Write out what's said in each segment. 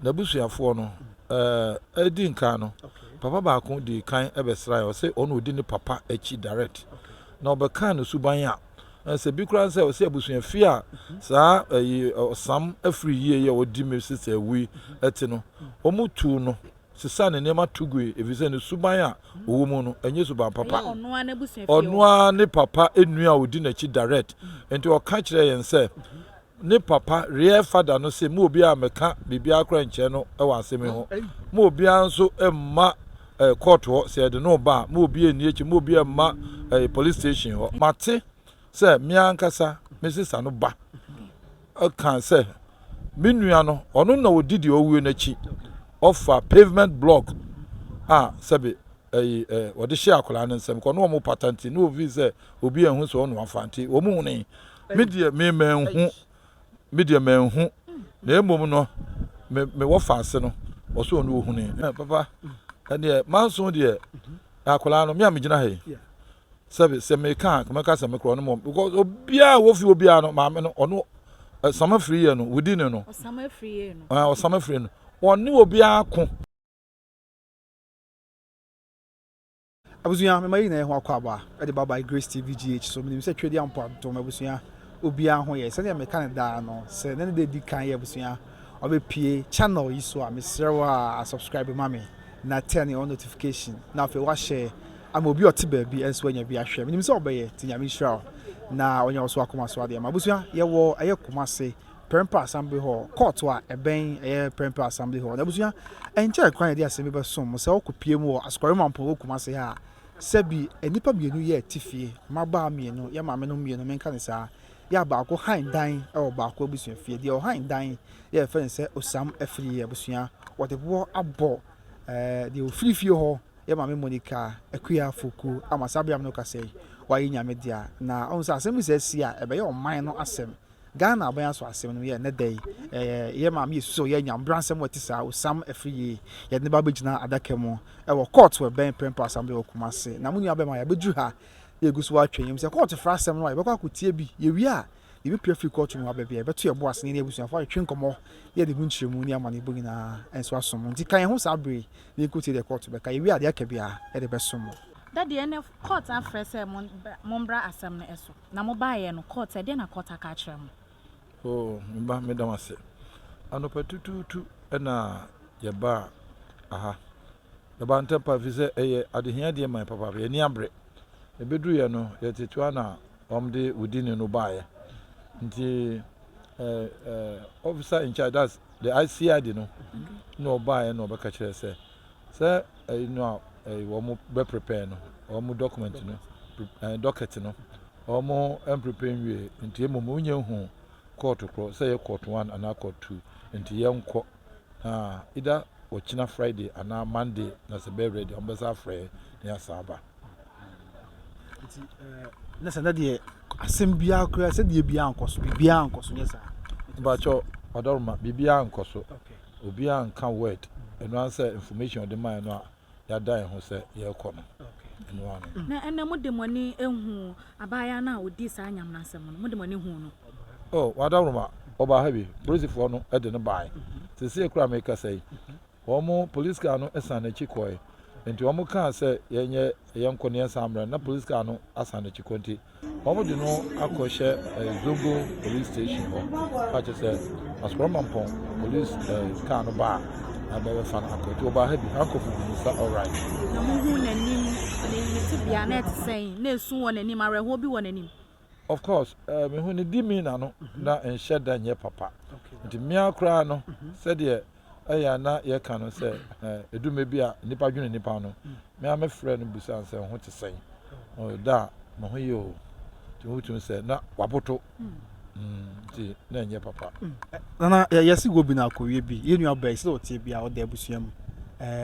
N'abusuafoɔ no, ɛɛ, di nkan no, papa baako dii kan bɛsraeɛ, ɔse ɔno ɔdi ne papa akyi direct, na ɔbɛkaa ne suban a, ɛsɛ bi koraa sɛ ɔse abusua fie a saa ɛyi ɔsam afiri yie yi a ɔdi me sister awui ɛte no, wɔn tuu no sesaa ne nneɛma to gui efisɛ ne suban a ɔwɔ mu no, ɛnyɛ suban papa. Ɔno ara ne papa nua a ɔdi n'akyi direct, nti ɔka kyerɛɛ yɛn sɛ Ne papa, real father no se ma obiara mmɛka biribiara koraa nnkyerɛ no wɔ asem yi ho. Ma obiara nso mma eh, court hɔ, sɛ yɛde no ba a, ma obiara nni akyi, ma obiara mma eh, police station hɔ. Mate sɛ me ankasa me sesa no ba eh, ka sɛ me nua no, ɔno na ɔdi deɛ ɔwuo no akyi. Ɔfa pavement block a sɛbe eh, eh, wɔde hyɛ akwadaa no nsam, kɔ na wɔn pata nti, na wɔn fi sɛ obi anhu sɛ ɔno afa nti, wɔn hunee. Me deɛ, me manhu, me deɛ manhu, na mmom no, me, me wɔfaase no, ɔsɛ ɔno ɔhunui. Eh, papa, ɛneɛ, manso deɛ, na akwadaa no, me a megyina ha yi, sɛbe, sɛ meka a, mɛka sɛ mekorɔ no mmom, because obiara wɔ fie obiara no, maame no, ɔno, ɔsam afiri yɛ no, within no, ɔsam afiri yɛ no, ah, ɔsam afiri no, ɔne obiara ko. Abusua mema yɛn nyinaa yɛho akwaaba de ba by Grace TV GH so menim sɛ Twedeɛ Ampɔn adom abusua obiara ho yɛ sɛdeɛ meka no daa no sɛ na ne da di kan yɛ abusua ɔbɛpie channel yi so a mesrɛ wo a subscribe ma me na turn on notification na afei wahyɛ ama obi ɔte baabi ɛnso anya bi ahwɛ menim sɛ ɔbɛyɛ ti nyame nhyira wo na ɔnya wo so akoma so adeɛ ma abusua yɛwɔ ɛyɛ koma se Prempeh Assembly Hall, kɔɔto a ɛbɛn ɛyɛ Prempeh Assembly Hall. Na abusua, ɛnkyɛɛ koraa na yɛde asɛm bi bɛsom mo sɛ wɔkɔpue mu wɔ Asukwaru Mampɔn wɔ Kumase ha a, sɛ bi a nnipa mmienu yɛ te fie, mmabaa mmienu, yɛn maamenom mmienu, menka no saa, yɛ a baako hann dan wɔ baako abusua fie. Deɛ ɔhann dan yi, yɛrefrɛ no sɛ osiam afiri. Abusua, wɔde boɔ abɔ eh, deɛ ɔfiri fie hɔ, yɛn maame Monica Akua Afoku ama saa bere a me ne wo kasa yi, wayɛ Nyame dea. Na ɔhu sɛ asɛm bi sɛ asi a, ɛbɛyɛ ɔman no asɛm. Ghana aban aso asɛm no yɛ nnɛ da yi yɛ maame yɛ susu ɔyɛ nya mbra nsɛm wɔ ɛte saa osam afiri yie yɛde ne ba bɛgyina adaka mu ɛwɔ kɔɔto wɔ ɛbɛn prɛmpɔ asambla wɔ Kumasi na mo nua bɛma yɛabɛduru ha na yɛgu so atwa yɛm sɛ kɔɔto fra asɛm no a yɛbɛkɔ akɔtie bi yɛwie a yɛbɛpia firi kɔɔto no mu aba bi a yɛbɛto yɛbo ase ne abusuafo atwetwe nkɔmmɔ yɛde mu nkyerɛmu ne amanebɔ nyinaa nso asom mo nti ka yɛn ho saa bere yi na yɛnkɔtie deɛ kɔɔto bɛka yɛwie a deɛ aka biara yɛde bɛsom mo. Dadeɛ ne kɔɔto afrɛ sɛ mombra asɛm no so. Na mo baeɛ no, Kurt, ɛdeɛn na Kurt aka akyerɛ mo? Oh, me ba, meda wo ase. Anɔpa tutuutu na yɛbaa aha. Yɛbaa ntɛm pa, ɛfiri sɛ ɛyɛ adehia deɛ mae papaapa. Yɛn ani abere. Yɛbɛduruiɛ no, yɛtete ara na wɔde wo din no baeɛ. Nti, eh, eh, officer in charge, that's the ICID no, na ɔbaeɛ na ɔbɛka kyerɛɛ sɛ, sɛ ɛyi no a ɛyi wɔn bɛ prepare no wɔn document no ɛɛ docket no wɔn ɛmprepare nwie nti emu mu nyɛ hu court korɔ sɛ yɛ court one anaa court two nti yɛn kɔ na either wɔkyina friday anaa monday na sɛ bɛɛ ready wɔn bɛ sɛ afrɛ ne asaaba. nti ɛɛ ne sɛ ne deɛ asɛm biara koraa sɛ deɛ biara nkɔ so biribiara nkɔ so nyɛ saa. bàtchɔ ɔdɔrɔma biribiara nkɔ so. Okay. obiaa nka word ɛno ara sɛ information ɔde mae no a yɛada yɛn ho sɛ yɛrekɔ no ɛno ara no. Na ɛnɛ mode mo ani ahu abaayaa no a ɔdii saa nyaminasɛm no? Mode mo ani huu no? Oh, w'adaworoma, ɔbaa ha bi, polisifoɔ no de no baae. Seesei koraa a merekasa yi, wɔn police car no san n'akyi kɔɔe. Enti wɔkaa sɛ yɛnyɛ yɛnkɔ na yɛnsan mmra no, na police car no asan n'akyi kɔ nti, Wɔde no akɔhyɛ Zongo Police Station hɔ a kyerɛ sɛ Asukuramanpɔn Police ɛɛ kaa no baa na bɛbɛfa no akɔ. Nti ɔbaa ha bi, handcuff gu ne nsa alright. Na muhu n'anim, ne ne tebea na ɛte sɛn? Na esu wɔ n'anim, awerɛhoɔ bi wɔ n'anim? Of course, ɛɛ mehu ne demeanour no na nhyɛ da nyɛ papa. Nti mmea koraa no sɛdeɛ ɛyɛ a na yɛka no sɛ ɛduru mmerɛ bi a nnipa dwene nnipa ho no me ara mɛfrɛ no bisa no sɛ wo ho te sɛn da a me ho yɛ o nti wobɛtumi sɛ na waboto nti na ɛnyɛ papa nana yɛse wɔ bi no akɔwie bi yɛ nua bɛi sɛ ɔteɛ bi a ɔda abusua mu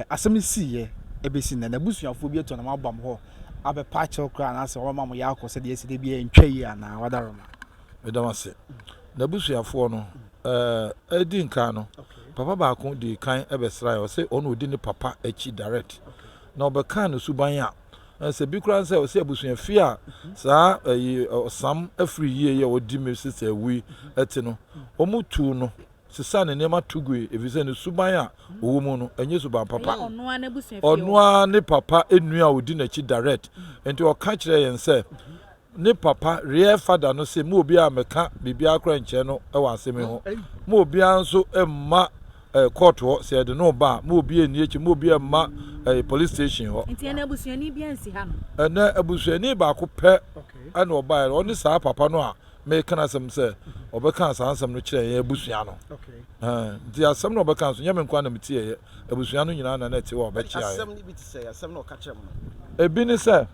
asɛm no siiɛ ɛbɛsi nnɛ na abusuafoɔ bi atɔ na mabam hɔ abɛpa akyɛw koraa anaasɛ wɔma mo yɛ akɔ sɛ deɛ ɛsi de bi ɛntwa yi anaa wadaroma Meda wo ase. N'abusuafoɔ no, eh, edi nkan no, papa baako dii kan bɛsraeɛ. Ɔse ɔno odi ne papa akyi direct. Na ɔbɛkaa ne suban a, eh, sɛ bi koraa ne sɛ, ɔse abusuafie a saa, ɛyi, eh, ɔsam afiri yie yi a ɔdi me sister awui te no, wɔn tuu no sesaa ne nneɛma to gui efisɛ ne suban a ɔwɔ mu no, ɛnyɛ suban papa. Ɔno ara ne papa nua a ɔdi n'akyi direct. Nti ɔka kyerɛɛ yɛn sɛ, Ne papa, real father no se ma obiara mmɛka biribiara koraa nkyerɛ no wɔ asem yi ho. Ma obiara nso mma court hɔ sɛ yɛde no ba a, ma obiara nni akyi, ma obiara mma police station hɔ. Nti ɛnɛ abusuani biara nsi ha no? Ɛnɛ abusuani baako pɛ na ɔbaeɛ no, ɔne saa papa no a meka n'asɛm sɛ ɔbɛka saa nsɛm no kyerɛɛ yɛn abusua no. Nti asɛm na ɔbɛka nso nyɛ me nko ara na metieeɛ, abusua no nyinaa na na ɛte hɔ a ɔbɛkyea yɛn. Ebi ne sɛ.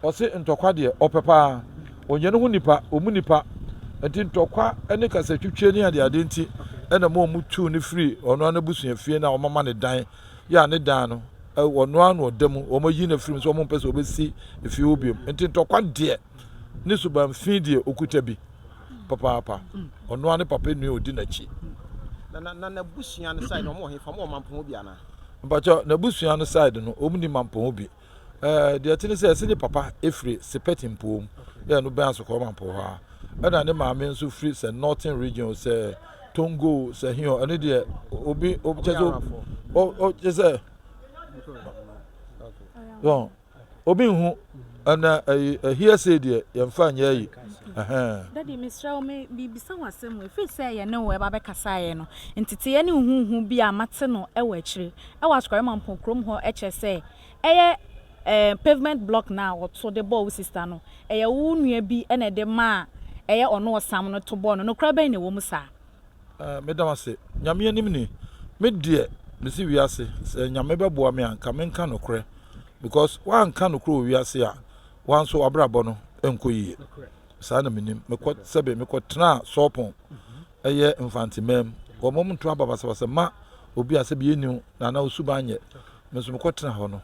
Ɔse ntɔkwa deɛ ɔpɛ paa. Ɔnyɛ ne ho nipa, ɔmu nipa. Nti ntɔkwa ne kasatwitwie ne adeade nti na ɛma ɔmu tuu no firi ɔno ara n'abusuafie no a wɔama no dan yi a ne dan no ɔno ara na ɔda mu. Wɔayi no afiri mu sɛ wɔmpɛ sɛ ɔbɛsi fie hɔ biom. Nti ntɔkwa deɛ ne suban fi deɛ ɔkuta bi papaapa. Ɔno ara ne papa nua a ɔdi n'akyi. Na na n'abusua no side no wɔn wɔ hefa? Wɔn wɔ Mampɔn hɔ bi anaa? Mpakyɛw, n'abusua no side no wɔn nni Mampɔn hɔ bi. Ɛɛ, deɛ ɛte ne sɛ, se ne papa firi Sipɛt mpoom, yɛ ɛno bɛn Asokɔrɔma mpo hɔ ara, ɛna ne maame nso firi sɛ Northern Region, sɛ Tongo, sɛ he hɔ, ɛno deɛ obi, obi kyɛ sɛ, o, o, kyɛ sɛ, yɔn, obi nhu, ɛna ɛyi, ɛhiɛ sei deɛ, yɛmfa nyɛ ayi, ɛhɛn. Daddy, mesrɛ wo, me, merebisa wo asɛm o, ɛfiri sɛ yɛne wo ɛba bɛkasaeɛ no, nteteeɛ ne nhuhu bi a mate no wɔ akyire, wɔ Asukari Mampong kurom hɔ kyerɛ sɛ ɛyɛ ɛɛ pavement block no a wɔto de bɔɔ wo sista no, ɛyɛ wo nua bi na ɛde maa ɛyɛ ɔno ɔsam no to bɔɔ no. Nokorɛ bɛn na ɛwɔ mu saa? Ɛɛ meda wo ase. Nyame anim ni, me deɛ mese wiase sɛ Nyame bɛboa me a nka menka nokorɛ because woanka nokorɛ wɔ wiase a wo ara nso w'abrabɔ no nkɔ yie. Saa na menim. Mekɔ sɛbe mekɔ tenaa Sorpong. Ɛyɛ Mfantseman mu. Wɔma mu ntoa ba basabasa ma obi a sɛ bi enyi wo na anaa wo suban nnyɛ. Me so mokɔ tsena hɔ no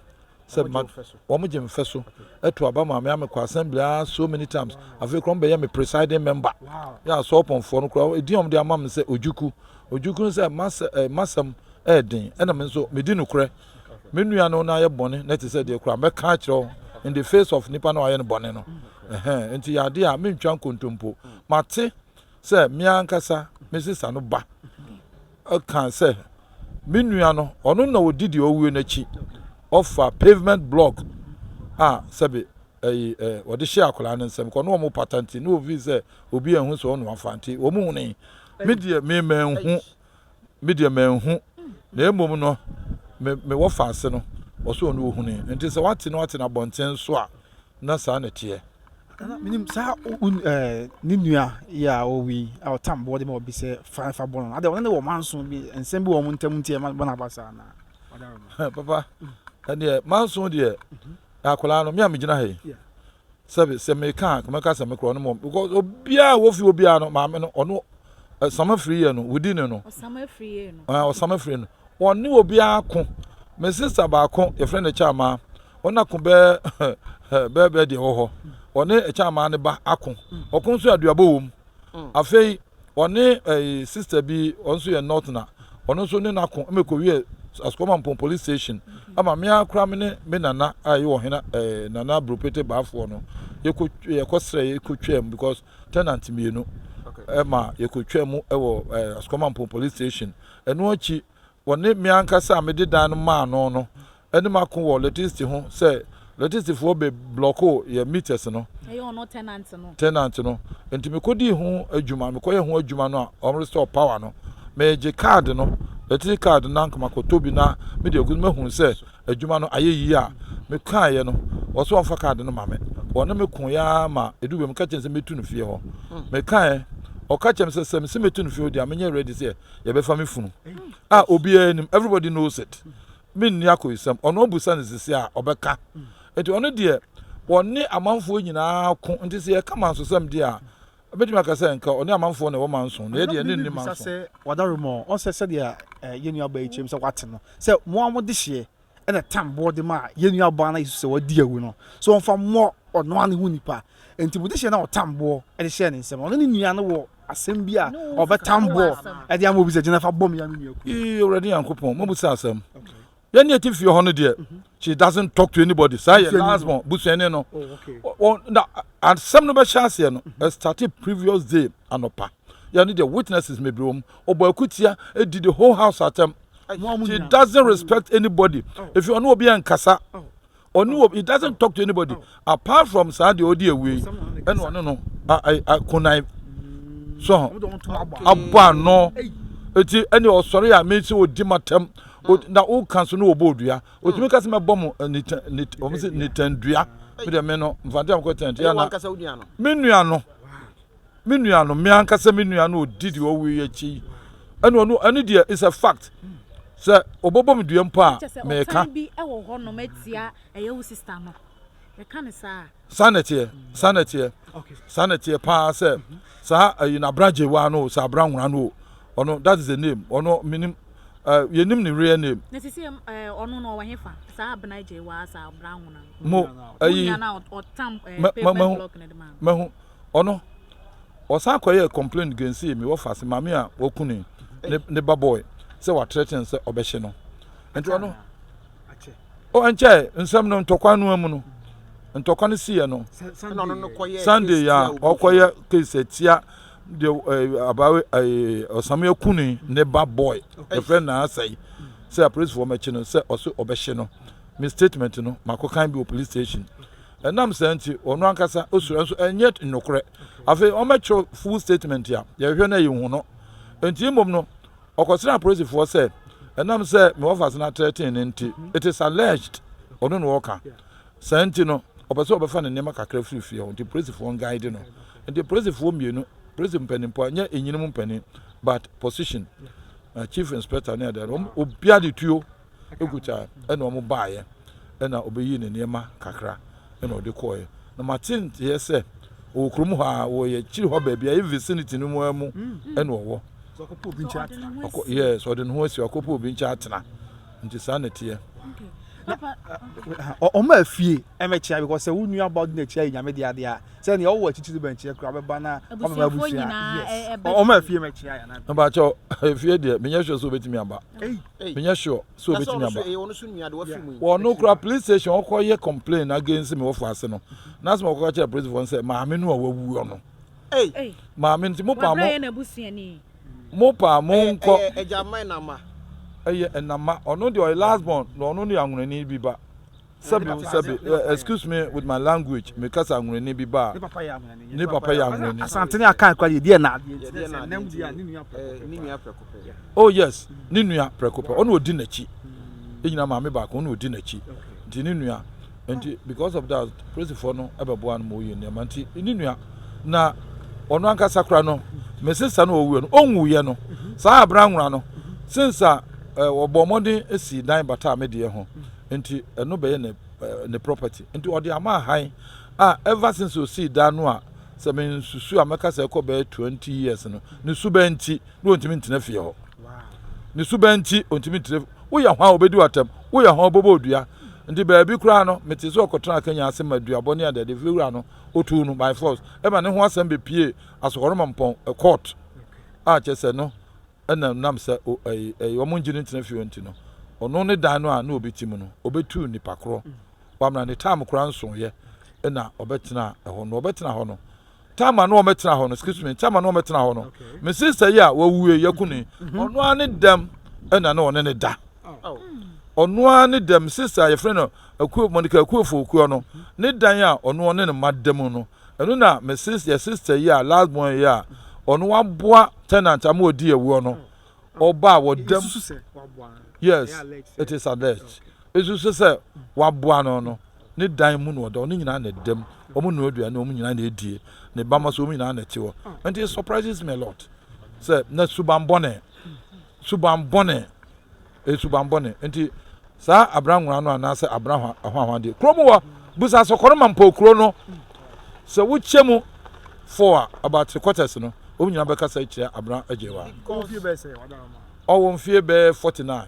sɛ mma wɔmo gye mfɛso. Ɛto aba ma me a mekɔ assembly aa so many times. Afei koraa wɔmo bɛyɛ me presiding member. Yɛ a Sorpon foɔ no koraa edin a wɔmo de ama me sɛ Ojukwu. Ojukwu no sɛ m'asɛm ɛyɛ den ɛna me nso medi nokorɛ. Me nua no na yɛ bɔne na ɛte sɛ deɛ koraa mɛka akyerɛ wo in the face of nipa no a ɔayɛ no bɔne no. Ɛhɛɛ nti yɛ adeɛ a mentwa nkontompo. Mate. sɛ me ankasa me sista no ba kaa sɛ me nua no, ɔno na ɔdi deɛ ɔwuo no akyi. Ɔfa pavement block a sɛbe ɛyi ɛ ɔde hyɛ akwadaa no nsam kɔ na wɔn pata nti na ofi sɛ obi anhu sɛ ɔno afa nti wɔn hunee. Me deɛ me mɛnhu Me deɛ manhu, na mmom no me mewɔ faase no, ɔsɛ ɔno ɔhunee. Nti sɛ wate no ate no abɔnten so a, na saa na ɛteɛ. Ana menim saa ne nua yɛ a ɔwi a ɔtam boɔ de ma obi sɛ fa fa bɔ no adɛ ɔne ne wɔ manso bi nsɛm bi wɔ wɔn ntam nti ɛma bɔno aba saa na papa ɛdeɛ manso deɛ akwadaa no me a megyina ha yi Sɛbi sɛ me ka a nka mɛka sɛ me kura ɔno mom because obiara a wofi obiara no maame no ɔno ɔsam afiri yɛ no within no ɔsam afiri yɛ no ɛɛ ɔsam afiri no ɔne obiara ko me sister baako yɛfrɛ no kyama ɔna ko bɛɛ bɛɛ bɛɛ deɛ wɔ hɔ ɔne kyama ne ba ako ɔko nso aduabɔ wɔ mu afei Ɔne sister bi ɔno nso yɛ Northerner, ɔno nso ne n'ako ma ɛkɔwiee Asukɔmampɔn Police Station ama me ara koraa me ne me nana a ɛyɛ ɔhene Nana Buropete Baafoɔ no yɛkɔsrɛeɛ yɛkɔtwaam because tenant mmienu ma yɛkɔtwaam wɔ Asukɔmampɔn Police Station. Ɛno akyi Wɔne me ankasa a mede dan no maa no no anim ako wɔ lɛtesiti ho sɛ lɛtesitifoɔ be blɔkoo yɛn meters no, Ɛyɛ ɔno tenant no. tenant no, enti mekɔdii ho adwuma, mekɔyɛ ho adwuma no a wɔn restore power no, meegye card no, lɛtesiti card no na makɔtɔ bi na mede agu so, mahunu sɛ adwuma no ayɛ yie a mekaeɛ no, wɔse wɔmfa card no ma me, wɔne me koeɛ ara ma ɛduu baabi meka kyerɛ no sɛ mɛtu no fie hɔ, mekaeɛ, ɔka kyerɛɛ me sɛ sɛ mese mɛtu no fie hɔ deɛ a menyɛ ready sɛ yɛbɛfa me funu a obiara nim everybody knows it menni akoyisɛm ɔno abusa no sisi a ɔbɛka nti ɔno deɛ wɔne amanfoɔ nyinaa ko nti sɛ yɛka mansosɛm deɛ a ɛbɛtumi aka sɛ nka ɔne amanfoɔ na ɛwɔ manso na yɛdeɛ ne nni manso sɛ wadare mɔ ɔsɛ sɛdeɛ eh, yɛnnuaba yi kyerɛm sɛ wate no sɛ mo a mode hyeɛ na Tam bɔɔ de maa yɛn nuabaa no a yesusuw sɛ wadi awu no sɛ ɔmfa mmɔ ɔno ara ne ho nipa. Enti bɔ dehye na ɔtam boɔ de hyɛɛ ne nsam. Ɔne ne nua no wɔ asɛm bi a ɔbɛtam boɔ de ama obi sɛ, Gyina fa bɔ me a me nua kum. Ee, Awurade Nyankopɔn, mabisa asɛm. Yɛne ati fie hɔ no deɛ, she doesn't talk to anybody. Saa yɛ last born, busuani no. Na asɛm no bɛhyɛ aseɛ no, ɛstate previous day anɔpa. Yɛne deɛ, witnesses bebree wɔ mu. Ɔbɔ akutia, di the whole house atɛm. She doesn't respect anybody. Efi ɔne obi ɛnkasa. Ɔne obi, he doesn't talk to anybody. Apart from saa deɛ ɔde awie yi, ɛna ɔne no akonan. So, abɔ ano. Eti ɛne ɔsɔre a mesi odi matam. Na woka so no wɔbɔ odua. Otumi ka sɛ mɛbɔ mo nitandua. Me deɛ me no, mfante amkɔ tɛnte. Me nua no. Me nua no, me ankasa me nua no odi deɛ ɔwɔ yi akyi yi. Ɛna ɔno, ɛne deɛ is a fact. Sɛ ɔbɔbɔ me dua mpo a, meka. Ɔtan bi wɔ hɔ nom atia ɛyɛ wo sista no. Yɛka no saa. Saa na ɛteɛ, saa na ɛteɛ, saa na ɛteɛ paa sɛ saa ɛyi na abra gyewa no o, sɛ abra nwura no o, ɔno that is the name, ɔno menim, uh, yɛnim ne real name. Na sisi ɛm, eh, ɔno no ɔwɔ hefa, saa abra gyewa, saa abra nwura no. Mo, ɛyi, Mo nua no a ɔtam, eh, pavement block no de ma. Mahu, Ɔno ɔsan kɔyɛɛ complaint gainsee me wɔfa se maame a waku ne ne ba boy sɛ watrɛten sɛ ɔbɛhye no nti ɔno o nkyɛ nsɛm no ntɔkwa no mu no ntɔkwa no siiɛ no sunday a ɔkɔyɛ case atia de abawe ɔsame aku ne ne ba boy ɛfrɛ na asɛe sɛ apolisifoɔ mɛkye no sɛ ɔso ɔbɛhye no me statement no makɔkan bi wɔ police station Ɛnam saa nti, ɔno ankasa osuro, nanso ɛnyɛ nokorɛ. Afei ɔmmɛtwerɛ full statement a yɛhwehwɛ na yɛnhu no. Enti mmom no, ɔkɔsrɛɛ apolisifoɔ sɛ, ɛnam sɛ me wɔfase no atrɛtee no nti, it is alleged, ɔno na ɔreka. Saa nti no, ɔpɛ sɛ ɔbɛfa ne nneɛma kakra firi fie hɔ, nti polisifoɔ nguide no. Nti polisifoɔ mmienu, polisi mpaninfoɔ, ɛnyɛ nyinom mpanin, but position, chief inspector ne adeade, wɔn, obiara de tuo. Eguta na wɔn baeɛ, ɛna ɔbɛyii ne nneɛma kakra na ɔde kɔeɛ. Na mate nteɛ sɛ ɔwɔ kurom hɔ ara, wɔ yɛn akyiri hɔ baabi a, yɛn vicinity no mu ara mu na ɔwɔ. So ɔkɔpɛ obi nkyɛn atena? Ɔkɔ, yes, ɔde ne ho asi hɔ, ɔkɔpɛ obi nkyɛn atena. Nti saa na ɛteɛ. Na ɔ- ɔma afie ɛmɛkyea because sɛ wo nua ba de n'akyi ayɛ nyame de adeɛ a sɛ nea ɔwɔ akyirikyiri bɛn kyerɛ kora bɛba na ɔbɛba Abusuafoɔ abusua nyinaa, yes ɛ- ɛbɛ Ɔ- ɔma afie ɛmɛkyea yɛ anaa Mepaakyɛw, efie deɛ, menyɛ sure sɛ ɔbɛtumi aba. Ei, menyɛ sure sɛ obetumi aba wɔ ɔno kora police station ɔkɔ yɛ complain against me wɔfo ase no na asɛm ɔkɔka kyerɛ police fo sɛ maame no a wawu ɔno maame nti mo paa mo mo paa mo nkɔ ɛyɛ ɛnama ɔno deɛ ɔyɛ last born na ɔno ne anwonani bi ba Sɛbi o sɛbi, excuse me with my language, me kasa ahunani bi ba a, ne papa yɛ ahunani. Asante ne Akan kura deɛ, deɛ na adeɛ nti ne sɛ nnɛm deɛ a ne nua prɛko pɛ. Ne nua prɛko pɛ. Oh yes, ne nua prɛko pɛ, ɔna ɔdi n'akyi. Ɛnyina maame baako, ɔna ɔdi n'akyi. Nti ne nua, nti because of that, polisifoɔ no bɛboa no ma ɔyɛ nneɛma. Nti ne nua, na ɔno ankasa kora no, me sista no ɔwuiɛ no, ɔnwuiɛ no, saa abena nwera no, since a wɔbɔɔ mmɔden sii dan bataa me deɛ ho, nti ɛno bɛyɛ ne ne property nti ɔde ama ahan a ever since osii dan no a sɛ me nsusu a mɛka sɛ ɛkɔ bɛyɛ twenty years no ne suban nti na ontumi ntena fie hɔ ne suban nti ontumi ntena woyɛ ho a obedi watam woyɛ ho ɔbɛbɔ odua nti baabi koraa no mete sɛ ɔkɔtena akanya ase ma duabɔ ne adade fie wura no otu no by force ɛma ne ho asɛm bepie asɔkɔrɔma mpɔn court a kyɛ sɛ no Ɛna ɛnam sɛ o ɛyi ɛyi wɔn ngye no ntena fie hɔ nti no, ɔno ne dan no a na ɔbɛti mu no, ɔbɛtuu nnipa korɔ. Wamena ne time koraa nsoeɛ ɛna ɔbɛtenaa ɛhɔ no. Ɔbɛtena hɔ no, time a na wɔbɛtena hɔ no, excuse me, time a na wɔbɛtena hɔ no, me sister yi a wawue, Yakuni, ɔno ara ne dɛm ɛna na ɔne ne da. Ɔno ara ne dɛm, sister a yɛfrɛ no Akuo, Monica Akuofo Okuo no, ne dan a ɔno ɔne ne mma da mu no, Ɛno na me sis yɛ sister yi a last born yi a ɔno waboa tenant ama ɔdii awuo no ɔba a wɔdam yes it is alleged ɛsu so sɛ waboa no no ne dan mu na ɔda ɔno nyinaa na ɛdam ɔmo nua aduane ɔmo nyinaa na ɛdie ne ba ma so ɔmo nyinaa na ɛte hɔ nti it surprises me a lot sɛ na suban bɔne suban bɔne Ɛyɛ subammɔne. Enti saa abena nwera no anaasɛ abena hwahwadeɛ, kuro mu hɔ, busa sɛ kɔnoma mpɔ kuro no. Sɛ wokyɛ mu four a, about three quarters no, wɔn nyinaa bɛka sɛ kyerɛ abena agyewa. Ɔwɔ mfie bɛyɛ forty nine.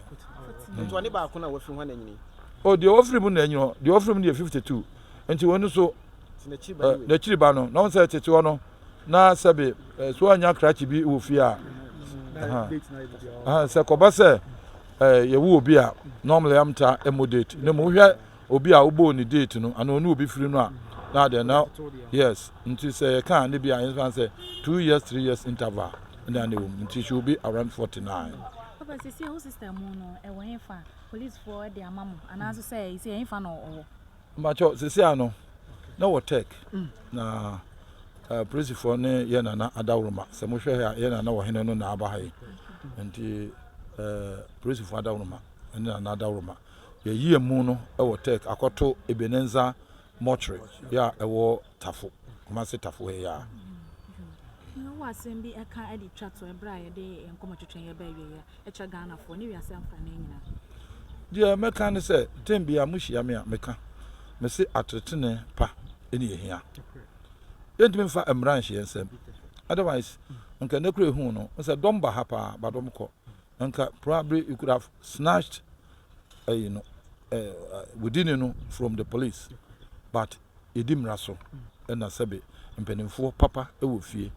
Nti ɔne baako na wafiri hɔ na anyini. O deɛ ɔfiri mu na anyini hɔ, deɛ ɔfiri mu deɛ fifty two. Nti wɔn so n'akyiri ba no, na wɔn sɛ tete hɔ no. na sɛbe eh, so anya krakye bi wɔ fie a sɛ kɔba sɛ eh, yɛwo obi a normally am ta ɛmo date na mu wohwɛ obi a wobɔɔ ne date no ana ɔne obi firi no a na adɛn na yes nti sɛ yɛka ne bi a yɛmfa sɛ two years three years interval ɛne ane wɔ mu nti she will be around 49 papa sisi wo sister mu no ɛwɔ hefa policefoɔ de ama mo anaasɛ sɛ ɛsɛ ɛhefa na ɔwɔ Mpakyɛw sesei ano na wɔ Turk na apolisifoɔ ne yɛn nana adaworoma sɛ mohwɛ ha yɛn nana wɔ hene no na aba ha yi nti apolisifoɔ adaworoma ne nana adaworoma yɛyi emu no wɔ Turk akɔto Ebenenza mortuary yɛ a ɛwɔ Tafo Kumasi Tafo ha yi a. Wɔ asɛm bi ɛka de twa to ɛberɛ a yɛde nkɔmɔ twetwe yɛ bɛ awieɛ. kyerɛ Ghanafoɔ ne wiase afa no nyinaa. Deɛ mɛka ne sɛ time biara mohyia me a meka mese atetene pa ɛne ɛhia. Yɛntumi mfa mmara nhyɛ yɛn nsam otherwise nka nnɛ kura ɛhu no sɛ dɔm ba ha paa but wɔn kɔ nka probably you could have snatched ɛyi no uh, within no from the police but yɛdi mmara so na sɛbe mpanimfoɔ papa wɔ fie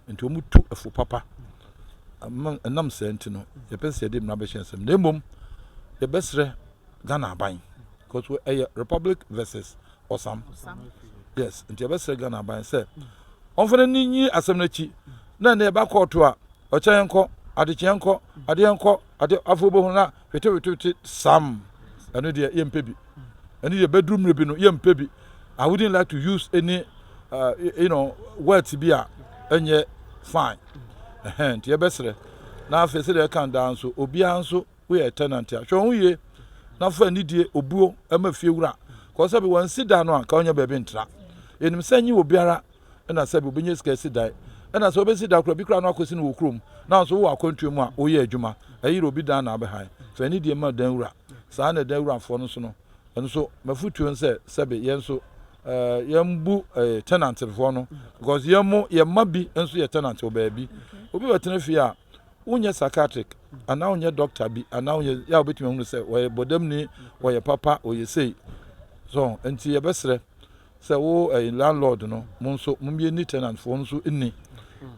nti wɔtu ɛfo papa ɛnam saa nti no yɛpɛ sɛ yɛde mmara bɛhyɛ nsɛm na mmom yɛbɛsrɛ Ghana aban because ɛyɛ republic versus ɔsam yes nti yɛbɛsrɛ Ghana aban sɛ ɔmfa no ni nyi asɛm no akyi na ɛnɛ yɛba kɔɔto a ɔkyɛ yɛn kɔ adekyeɛ nkɔ adeɛ nkɔ adeɛ afei wobɛhu no a Wetewetewete Sam, ɛno deɛ yɛmpɛ bi. Ɛno deɛ bɛduru mmerɛ bi no yɛmpɛ bi. I wouldn't like to use any uh, you know, words bi a ɛnyɛ fine. Ɛhɛn, nti yɛbɛsrɛ. Na afei sɛdeɛ ɛka daa nso, obiara nso woyɛ tenant a, hwɛ wo ho yie na fa anidie, obuo ma fie wura. Kɔɔ sɛ bi wansi da no a, nka ɔnyɛ baabi ntra. Yɛnim sɛ nye obiara na sɛbi wobɛnya sika asi dan na sɛ wobɛsi dan koraa bi koraa no akɔsi no wɔ kurom na nso wowɔ akwantuo mu a woyɛ adwuma ɛyere obi dan na abɛhan fa ani deɛ ma dan wura saa na dan wurafoɔ no nso no ɛno nso mafotuo no sɛ sɛbi yɛn nso eh, yɛmbu eh, tenantfoɔ no because yɛn mo yɛn mma bi nso yɛ tenant wɔ baabi obi bɛtena fie a wonyɛ psychiatric anaa wonyɛ doctor bi anaa wonyɛ yɛ a wobɛtumi ahunu sɛ wɔyɛ bɔdamni wɔyɛ papa wɔyɛ sei so nti yɛbɛserɛ Sɛ wo yɛ landlord no mo nso mo yɛ ni tenant foɔ nso ni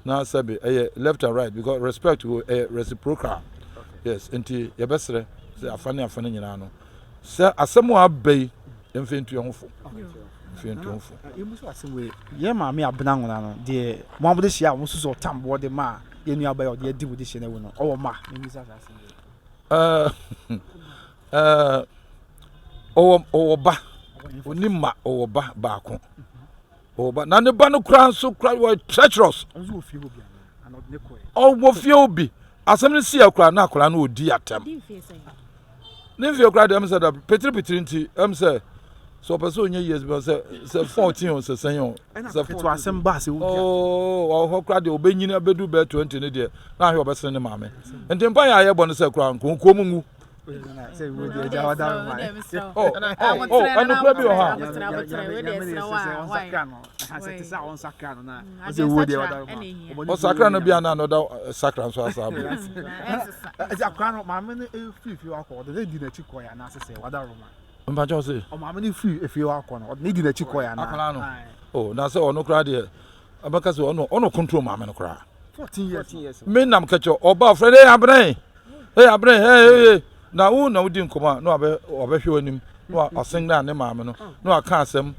na sɛbe ɛyɛ left and right because respect wo ɛyɛ reciprocal yes nti yɛ bɛ srɛ sɛ afa ne afa ne nyinaa no sɛ asɛm a aba yi yɛ mfɛ ntu yɛ ho fo mfɛ ntu ho fo. Yɛ mu so asɛm wei yɛ maame abena nwona no deɛ mo abode hyia a mo susu ɔtam boɔ de ma yɛ nua aba yɛ ɔde adi mo de hyɛ na ɛwu no ɔwɔ ma. Ɛɛ Ɔwɔ ɔwɔ ba, ɔni mma, ɔwɔ ba baako. Ɔwɔ ba na ne ba no koraa nso koraa wɔ treacherous. Ɔwɔ fie hɔ bi. Asɛm no si akora na akora no ɔdi atɛm. Ne mfie koraa deɛ ɛm sɛ da petiri petiri nti ɛm sɛ sɛ ɔpɛ sɛ ɔnyɛ years bi sɛ sɛ fourteen o sɛ sɛn o. Sɛ fo asɛm ba sɛ ɔdi atɛm. Oo oh, ɔhɔ koraa deɛ ɔbɛnyini abɛdu bɛɛ twenty ne deɛ na ahwɛ ɔbɛsene ne maame. Nti mpa yɛ ayɛ bɔ no sɛ koraa nkonkuo mu ngu. ɔsakra no bia na na ɔda sakra nso asa abɔ ɛsɛ akora no maame no firi fie wakɔ ɔde ne di n'akyi kɔɛ anaasɛ sɛ wada roma mpakyɛw se ɔmaame no firi fie wakɔ no ɔde ne di n'akyi kɔɛ anaa akora no o na sɛ ɔno koraa deɛ abɛka sɛ ɔno ɔno control maame no koraa 14 years me nam kɛkyɛ ɔba frɛ dɛ abena Hey abere hey hey hey na wo na wodi nkɔmɔ a na wabɛ wabɛhwɛ w'anim na wa wasen na ne maame no na waka asɛm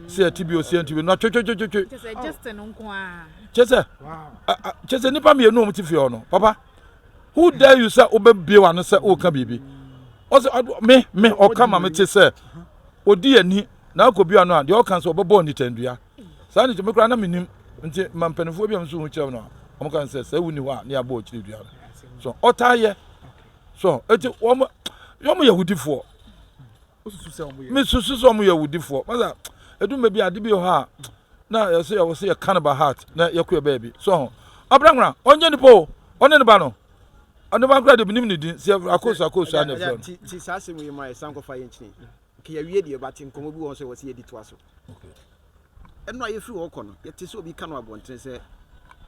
sɛ ɛte bi osi ɛnti bi na twetwetwetwe kyɛ sɛ kyɛ sɛ nipa mmienu wɔn ti fi hɔ no papa who dare you sɛ wobɛbie w'ano sɛ woka biribi ɔsɛ me me ɔka ma me te sɛ odi ani na akɔ bi ano a deɛ ɔka sɛ ɔbɛbɔ nitandua Saa nti me koraa na mennim. Nti ma mpaninfoɔ bi a meso ho kyerɛ no a, wɔn ka no sɛ sɛ wonni hɔ a ne yɛabɔ ɔkyiri dua no. So ɔtaa yɛ. So eti wɔn wɔn yɛ awudifoɔ. Mesusu sɛ wɔn yɛ awudifoɔ. Masa ɛdum baabi ade bi wɔ hɔ a na yɛsɛ yɛwɔ sɛ yɛka no by heart na yɛkɔ yɛ baabi. So ho abranwura ɔnyɛ nipa o ɔne ne ba no ɔne ba koraa de menim ne din sɛ akɔsu akɔsu a na ɛfrɛ no. Okay yɛawie deɛ but nkɔmmɔ bi wɔ hɔ sɛ wɔsɛ yɛdi toa so. Okay. Ɛno a yɛfiri hɔ kɔ no yɛte sɛ obi ka no abɔntene sɛ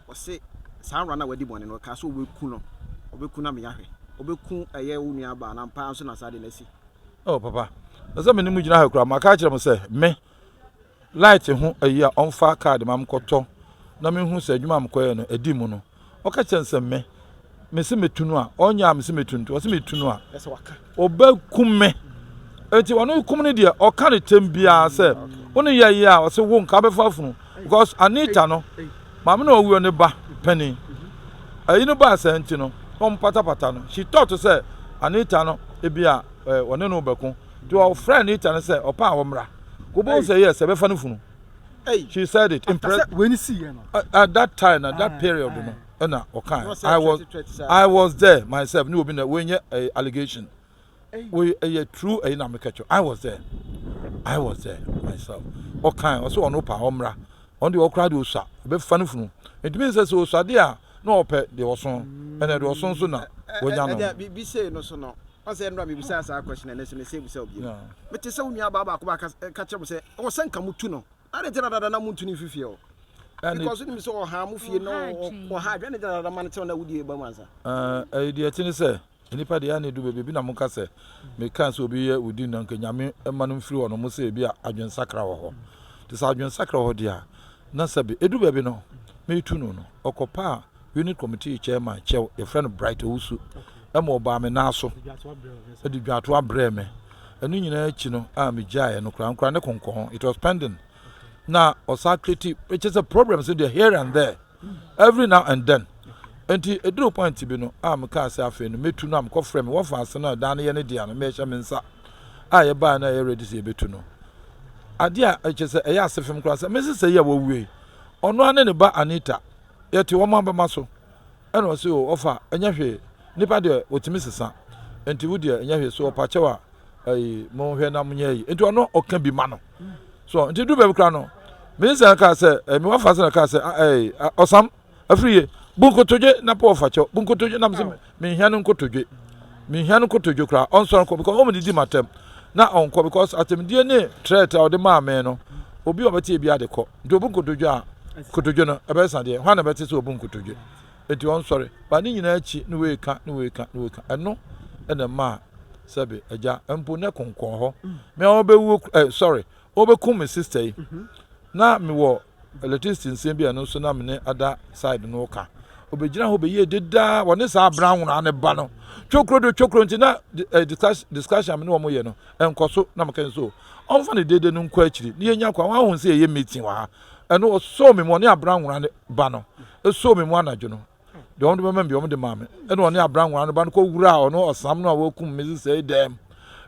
ɔse saa awura no a wadi bɔne no ɔkaa sɛ ɔbɛku no ɔbɛku no ameyahwɛ ɔbɛku ɛyɛ wo nua baa no ampaa nso na saa de no asi. Oh papa ɛsɛ me ne mu gyina ha kura maka akyerɛ mo sɛ me light ho ayi a ɔmfa card ma mkɔtɔ na menhu sɛ adwuma a mkɔyɛ no adi mu no ɔka kyerɛ no sɛ me mese metu no a ɔnyɛ a mese metu nti ɔse metu no a ɔbɛkum me nti ɔno kum no deɛ ɔka no tɛm biara sɛ wo ne yɛyɛ a ɔse wo nka bɛfa afunu because Anita no maame na ɔwuo ne ba panin ayi no baa saa nti no na ɔmpatapata no she thought sɛ Anita no ebi a ɔne no bɛko Nti ɔfrɛɛ ne ta no sɛ ɔpɛ a ɔmmra. Wobɛhu sɛ yes, yɛbɛfa no funu. She said it. Impress. Sɛ wei ni si yɛ no. At, at that time na that period no ɛna ɔkae. I was, I was there myself. Ne obi na wei nyɛ ɛyɛ allegation. Wei ɛyɛ true ɛyi na meka kyerɛ. I was there. I was there myself. Ɔkae ɔsɛ ɔno pa ɔmmra. Ɔno deɛ ɔkora deɛ ɔsua bɛfa no funu. Ɛtumi sɛ sɛ ɔsua deɛ a na ɔpɛ deɛ ɔso. Ɛna deɛ ɔso nso na wɔnya no. Ɛdeɛ bi sei no so no. Ɔsɛ nnora mebisaa saa question no ɛnnɛ nso mese bisa wo bio. Mete sɛ wo nua baa baako ba ka kyerɛ mo sɛ ɛwɔ sɛ nka mo tu no. Adɛn nti na dada na montu no mfi fie hɔ? Because wonim sɛ ɔhaa mo fie na ɔhaa adwene ne dada ma no kyɛw na wodie ba mu ansa. Ɛyɛ deɛ ɛte ne sɛ nnipa deɛ ɛne du baabi ebi na monka sɛ meka sɛ obi yɛ wodin na nka nyame ma no mfiri hɔ no mo sɛ ebi a adwensakra wɔ hɔ. Nti sɛ adwensakra wɔ hɔ deɛ a na sɛbe edu baabi no metu no no ɔkɔpaa Unit Committee Chairman kyɛw, yɛfrɛ no Bright Owusu, ma ɔbaa me nan so de dwatoa brɛɛ me. Ɛno nyinaa akyi no a migyaeɛ no koraa nkora ne konkɔn. It was pending. Na ɔsan kreti, ɛkyɛ sɛ problems no deɛ here and there, every now and then. Nti ɛduru point bi no a mekaa sɛ afei no mɛtu no a mekɔfrɛ me wɔfa ase no a dan no yɛ ne dea no mɛhyɛ me nsa a yɛbaeɛ no a ɛyɛ ready sɛ yɛbɛtu no. Adeɛ a ɛkyɛ sɛ ɛyɛ asefem koraa sɛ me sesɛ yi a wɔwuei, ɔno ara ne ne ba Anita Yɛte wɔn abɛma so. Ɛna ɔse o ɔfa ɛnyɛ hwee nipa deɛ ɔtumi sesa nti wo deɛ ɛnyɛ hwee so ɔpa kyɛw a ɛyi mo hwɛ na mo nyɛ ɛyi nti ɔno ɔka bi ma no so nti du baabi kora no minsan kaa sɛ ɛmi wafa sɛ na kaa sɛ ɛyi ɔsam afiri yɛ bunkotodwe na po ɔfa kyɛw bunkotodwe nam sɛ Menhia no nkotodwe. Menhia no nkotodwe koraa. Ɔnsɔre nkɔ because wɔdidi m'atɛm na ɔnkɔ because atɛmdie ne threat a ɔde maa me no obi a ɔbɛte ebi ade kɔ nti obu nkotodwe a nkotodwe no ɛbɛsa deɛ hwan na ɛbɛte sɛ obu nkotodwe nti ɔnsɔre ba ne nyinaa akyi ne wei ka ne wei ka ne wei ka ɛno ɛna mmaa sɛbe agya mpo ne konkɔn hɔ mmea wɔbɛwuo ɛ sɔre Wɔbɛkum me sister yi. Na me wɔ electricity nsɛm bi a ɛno nso na me ne ada side no ka. Obɛgyina hɔ bɛyie dedaa wɔne saa abena nwonaa ne ba no. Twokuro do twokuro nti na eh, discussion a me ne wɔn yɛ no ɛnkɔ so na meka nso. Ɔmfa ne dede no nkɔ akyiri ne yɛnya kwa wɔn ahun sɛ yɛyɛ meeting wɔ ha. Ɛno ɔsoo me mu ɔne abena nwonaa ne ba no. Ɛsoo me mu anadwo no. deɛ wɔde bɛma me deɛ wɔde maa me ɛna ɔne abrangwa no ba no kɔwuraa ɔno ɔsam no a wɔkum me sesɛe dɛm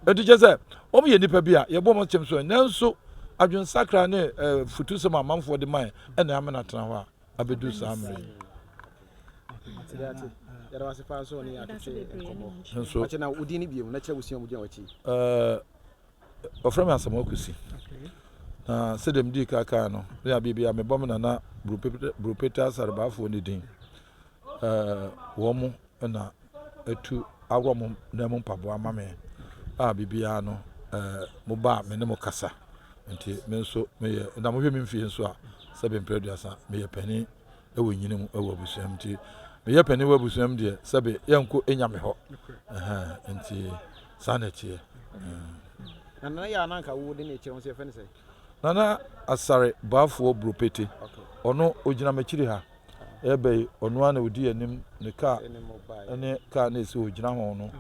ɛnti kyɛ sɛ wɔyɛ nnipa bi a yɛbɔ wɔn kyɛm so nanso adwensakra ne eh, futusɛm amanfoɔ de mae ɛna ama no atena hɔ a abɛdu saa mmerɛ yi nso eh, Wɔfrɛ me Asamoah Kwesi. Na sɛdeɛ medii ka kaa no, me abeɛ biara mebɔ me nana Buropeta Asarabaafoɔ ne din. Wɔn mo na atu aworɔ mo nan mu mpaboa ama me a biribiara no mo ba a me ne mo kasa. Nti me nso meyɛ na mohwɛ me mfie nso a sɛbe mprɛ aduasa meyɛ panin. wɔ nyini mu wɔ abusua mu nti meyɛ panin wɔ abusua mu deɛ sɛbe yɛnkɔ nya me hɔ nti saa na ɛteɛ na nana yɛ ananka wo de ne kyerɛ wo sɛ yɛfɛ ne sɛ nana asare baafoɔ buropete ɔno ogyina m'akyiri ha ɛbɛ yi ɔno a na odi anim ne kaa ne kaa na esi ogyina ho no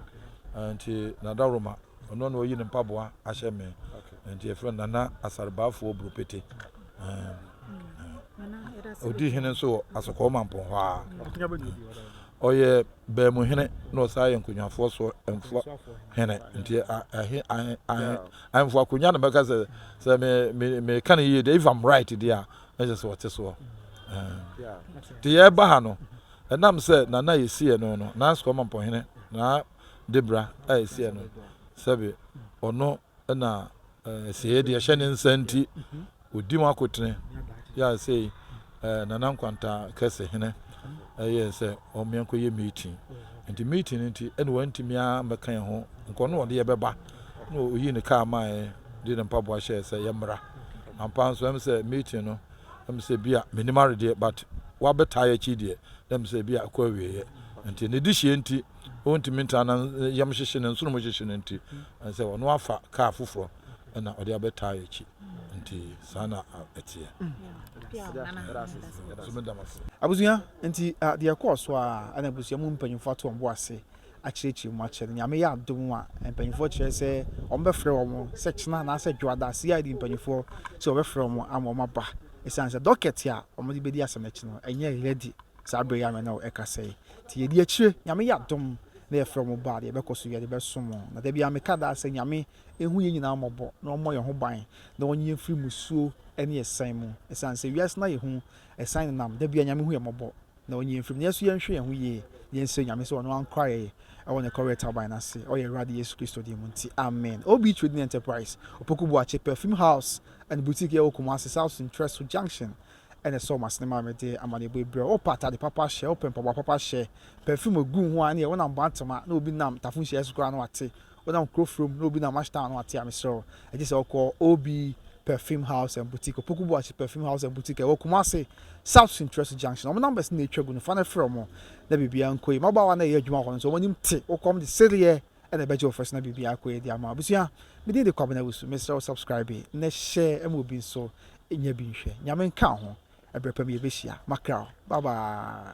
nti nadaworoma Ɔno na ɔyi ne mpaboa ahyɛ me. Nti yɛfrɛ no Nana Asarbaafoɔ Buropete. Ɔdi hene nso wɔ Asɔkɔɔ Mampɔn hɔ a. Ɔyɛ Baamu hene na ɔsan yɛ Nkonnwafoɔ so mfoɔ hene. Nti ahemfo akonnwa na mɛka sɛ sɛ meka no yie deɛ if I'm right deɛ a na kyerɛ sɛ ɔte soɔ. Nti yɛreba ha no ɛnam sɛ Nana yɛsiiɛ no no na Asɔkɔɔ Mampɔn hene na de bra a ɛsiɛ no, sɛbe ɔno na asiɛeɛ deɛ ɛhyɛ ne nsa nti ɔdi mu akotene yɛ a sei Nana Nkwanta kɛse hene ɛyɛɛ sɛ ɔmmea nkɔyɛ meeting nti meeting no nti ɛne wantumi a mmɛka yɛn ho nkɔ no ɔde yɛbɛba na ɔyi ne kaa maaɛ de ne mpaboa hyɛɛ sɛ yɛmmra ampa nso ɛm sɛ meeting no ɛm sɛ bi a menim aredeɛ but wabɛtaa yɛkyi deɛ ɛm sɛ bi a ɛkɔ awieɛ nti ne de hyɛ nti ɔntumi ntra na yam hyehye no, nsonom hyehye no nti, ɛne sɛ ɔno afa kaa foforɔ na ɔde abɛtaa akyi nti saa na ɛteɛ. Abusua nti deɛ ɛkɔɔ so a ɛna abusua mu mpanyinfoɔ ato wɔn bo ase akyerɛkyerɛ mu akyerɛ no nyame yɛ adom a mpanyinfoɔ kyerɛ sɛ wɔn bɛfrɛ wɔn sɛ kyena anaasɛ dwoada CID mpanyinfoɔ sɛ wɔbɛfrɛ wɔn ama wɔn aba ɛsiane sɛ dɔkɛte a wɔn de bɛdi asɛm akyi no ɛnyɛ ready Saa berɛ yi ara na ɛka sɛ, Te yɛdi akyire, Nyame yɛ adom na yɛfrɛ mo ba a, deɛ ɛbɛkɔ so yɛde bɛsom mo. Na da biara meka daa sɛ Nyame nhu yɛn nyinaa mmɔbɔ na ɔmmɔ yɛn ho ban na ɔnye yɛn mfiri mmusuo ne ɛsan mu. Ɛsiane sɛ wiase no ayɛ hu, ɛsan nenam, da biara Nyame hu yɛn mmɔbɔ na ɔnye yɛn mfirim. Nanso yɛnhwɛ yɛn ho yie na yɛnsrɛ Nyame sɛ ɔno ankora yɛn wɔ ne kɔreɛ taban no ase, ɔyɛ Awurade Yesu Kristo din mu nti, amen. OB Trading Enterprise, Opoku Boakye Perfume House and Boutique yɛwɔ Kumasi South Centrɛso Junction, Ɛna ɛsɔɔ m'asene maa mede amanneɛbɔ yi brɛɛ wo, Wopɛ atade papa hyɛ, wopɛ mpaboa papa hyɛ, perfume a gu wo ho a ɛne yɛ, wonam Boantema na obi nam Tafo Nhyiae so koraa na wate, wonam Kurofrom na obi nam Ash Town na wate a, mesrɛ wo, gye sɛ wokɔ OB Perfume House and Boutique, Opoku Boakye Perfume House and Boutique a ɛwɔ Kumasi, South Sintweso Junction. Wɔn numbers na atwa gu no, fa na frɛ wɔn na biribiara nkɔ yie. Mmabaawa no a ɛyɛ adwuma hɔ no nso, wɔn anim te, wokɔ a wɔde sereɛ na ɛbɛgye wo first na biribi akɔ yie de ama wo abusua me din de Kwabena Awusu mesrɛ wo subscribe na share ma obi nso nya bi nhwɛ Nyame nka wo ho ɛbrɛ pa mu yɛbɛhyia makra wo bye bye.